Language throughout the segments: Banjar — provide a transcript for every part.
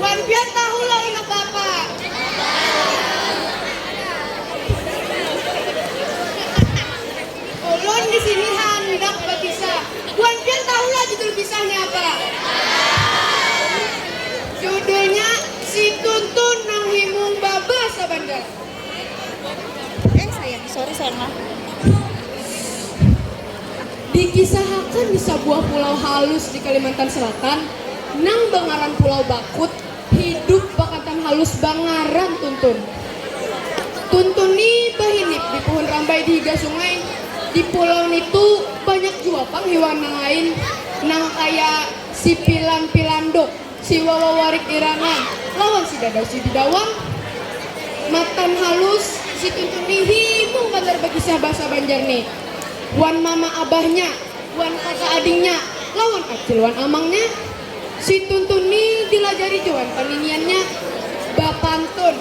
Wan pian tahu lah inya kapa. Ulun di sini handak bakisah. Wan pian tahu lah judul kisahnya apa. Judulnya Si Tuntun nang Himung Baba Sabandar. Dikisahakan di sabuah pulau halus di Kalimantan Selatan nang bangaran Pulau Bakut hidup bakantan halus bangaran Tuntun. Tuntun ni bahinip di puhun rambai di higa sungai. Di pulau nitu banyak jua pang hiwan nang lain nang kaya si pilan pilanduk. Si Wawa warik irangan lawan si Dadau si Didawang. Matan halus si Tuntun ni himung banar bakisah bahasa Banjar ni wan mama abahnya wan kaka adingnya lawan acil wan amangnya. Si Tuntun ni dilajari jua wan paniniannya bapantun,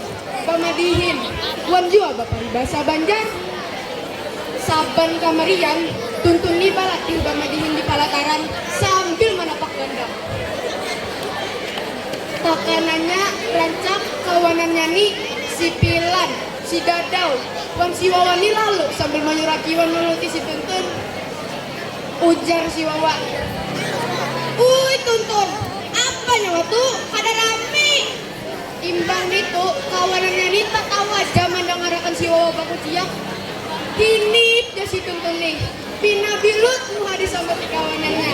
bamadihin wan jua baparibasa Banjar. Saban kamarian Tuntun ni balatih bamadihin di palataran sambil manapak gandang. Pakanannya rancak kawanannya ni si Pilan, si Dadau, wan si Wawa ni lalu sambil manyuraki wan manuruti si Tuntun. Ujar si Wawa. Uy Tuntun, apa nyawa tu kada rami. Imbah nitu kawanannya ni tatawa ja mandangarakan si Wawa bakuciak. Hinip ja si Tuntun nih. Pi Nabi Lut muha disamati kawanannya.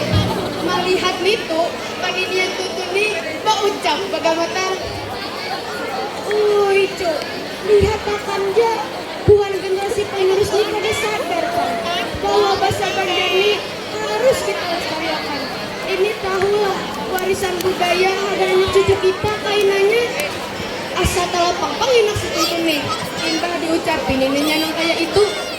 Malihat nitu, paninian Tutun ni baucap bagamatar, Uy cu, lihat akan ja, buhan generasi penerus ni kada sadar pang bahwa basa Banjar ni harus kita lestariakan. Ini tahulah warisan budaya hadangan cucu kita kainanya. Asa talapang pang inak si Tutun ni imbah diucapi nininya nang kaya itu.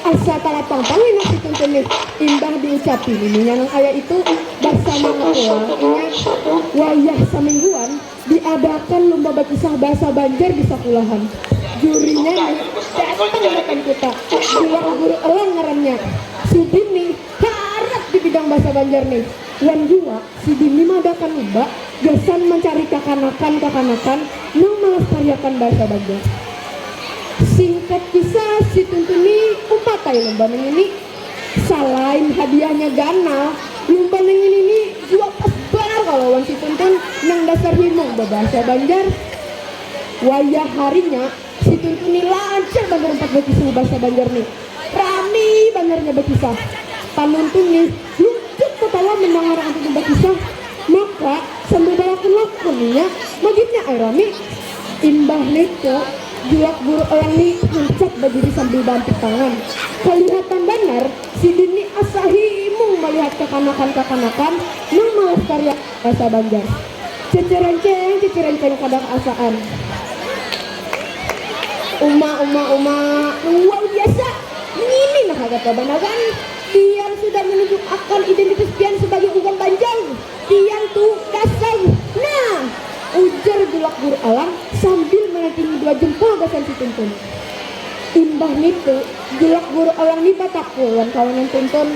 Asa tarapang pang inya si Tuntun nih, imbah diucapi nininya nang kaya itu, basamaan pula inya wayah samingguan Diadakan lumba bakisah basa banjar di sakulahan. Jurinya ni datang matan kuta. Bilang guru elang ngarannya. Sidin ni harat di bidang basa banjar ni. Wan jua sidin ni maadakan lumba gasan mancari kakanakan-kakanakan nang malastariakan basa banjar. Singkat kisah, si Tuntun ni umpat ai lumba nangini. Salain hadiahnya ganal, lumba nang ini ni jua pas banar kalo wan si Tuntun nang dasar himung babahasa Banjar. Wayah harinya, si Tuntun ni lancar banar umpat bakisah babahasa Banjar ni. Rami banar inya bakisah. Panuntun ni luncut tatawa mandangar Ang Tuntun bakisah, maka sambil balakun-lakun inya magimnya ai rami. Imbah nitu. Julak buruk ayang ni hancap badiri sambil baampit tangan. Kalihatan banar, sidin ni asa himung malihat kakanakan-kakanakan nang malas kariak bahasa Banjar. Cecerenceng, cecerenceng kada kaasaan. Uma, uma, uma, luar biasa! Ngini nah kagatabanar kan? Pian sudah menunjukakan identitas pian sabagai urang Banjar! Pian tu gasan nah! ujar Julak Guru Alam sambil manantingi dua jempol gasan si Tuntun. Imbah nitu, Julak Guru Alam ni batakul wan kawanan Tuntun,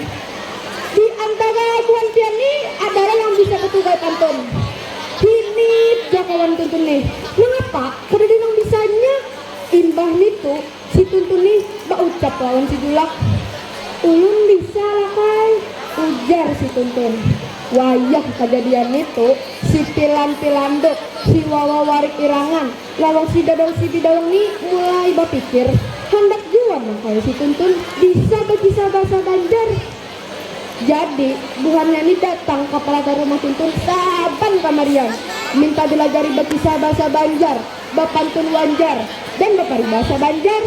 Di antara buhan pian ni adalah yang bisa betugal pantun? Hinip ja kawan Tuntun nih, nangapa kadada nang bisanya? Imbah nitu. Si Tuntun nih baucap lawan si Julak. Ulun bisa Lakai, ujar si Tuntun. Wayah kajadian nitu, si Pilan Pilanduk, si Wawa Warik Irangan, lawan si Dadang si Bidawang nih mulai bapikir, handak jua nang kaya si Tuntun bisa bakisah bahasa Banjar. Jadi, buhannya nih datang ka palatar rumah Tuntun saban kamarian, minta dilajari bakisah bahasa Banjar. bapantun wanjar dan baparibasa banjar.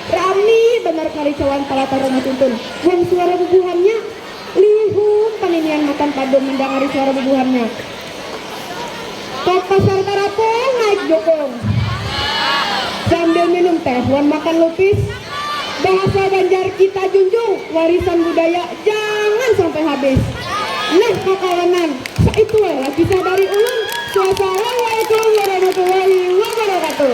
Rami banar karicauan talatar rumah tuntun wan suara bubuhannya. Lihum paninian matan padum mandangari suara bubuhannya. Ka pasar tarapung naik jukung. Sambil minum teh wan makan lupis. Bahasa Banjar kita junjung, warisan budaya jangan sampai habis. Nah kakawanan, saitu ai lah kisah dari ulun, Swassalawaikum warahmatullahi wabarakatuh.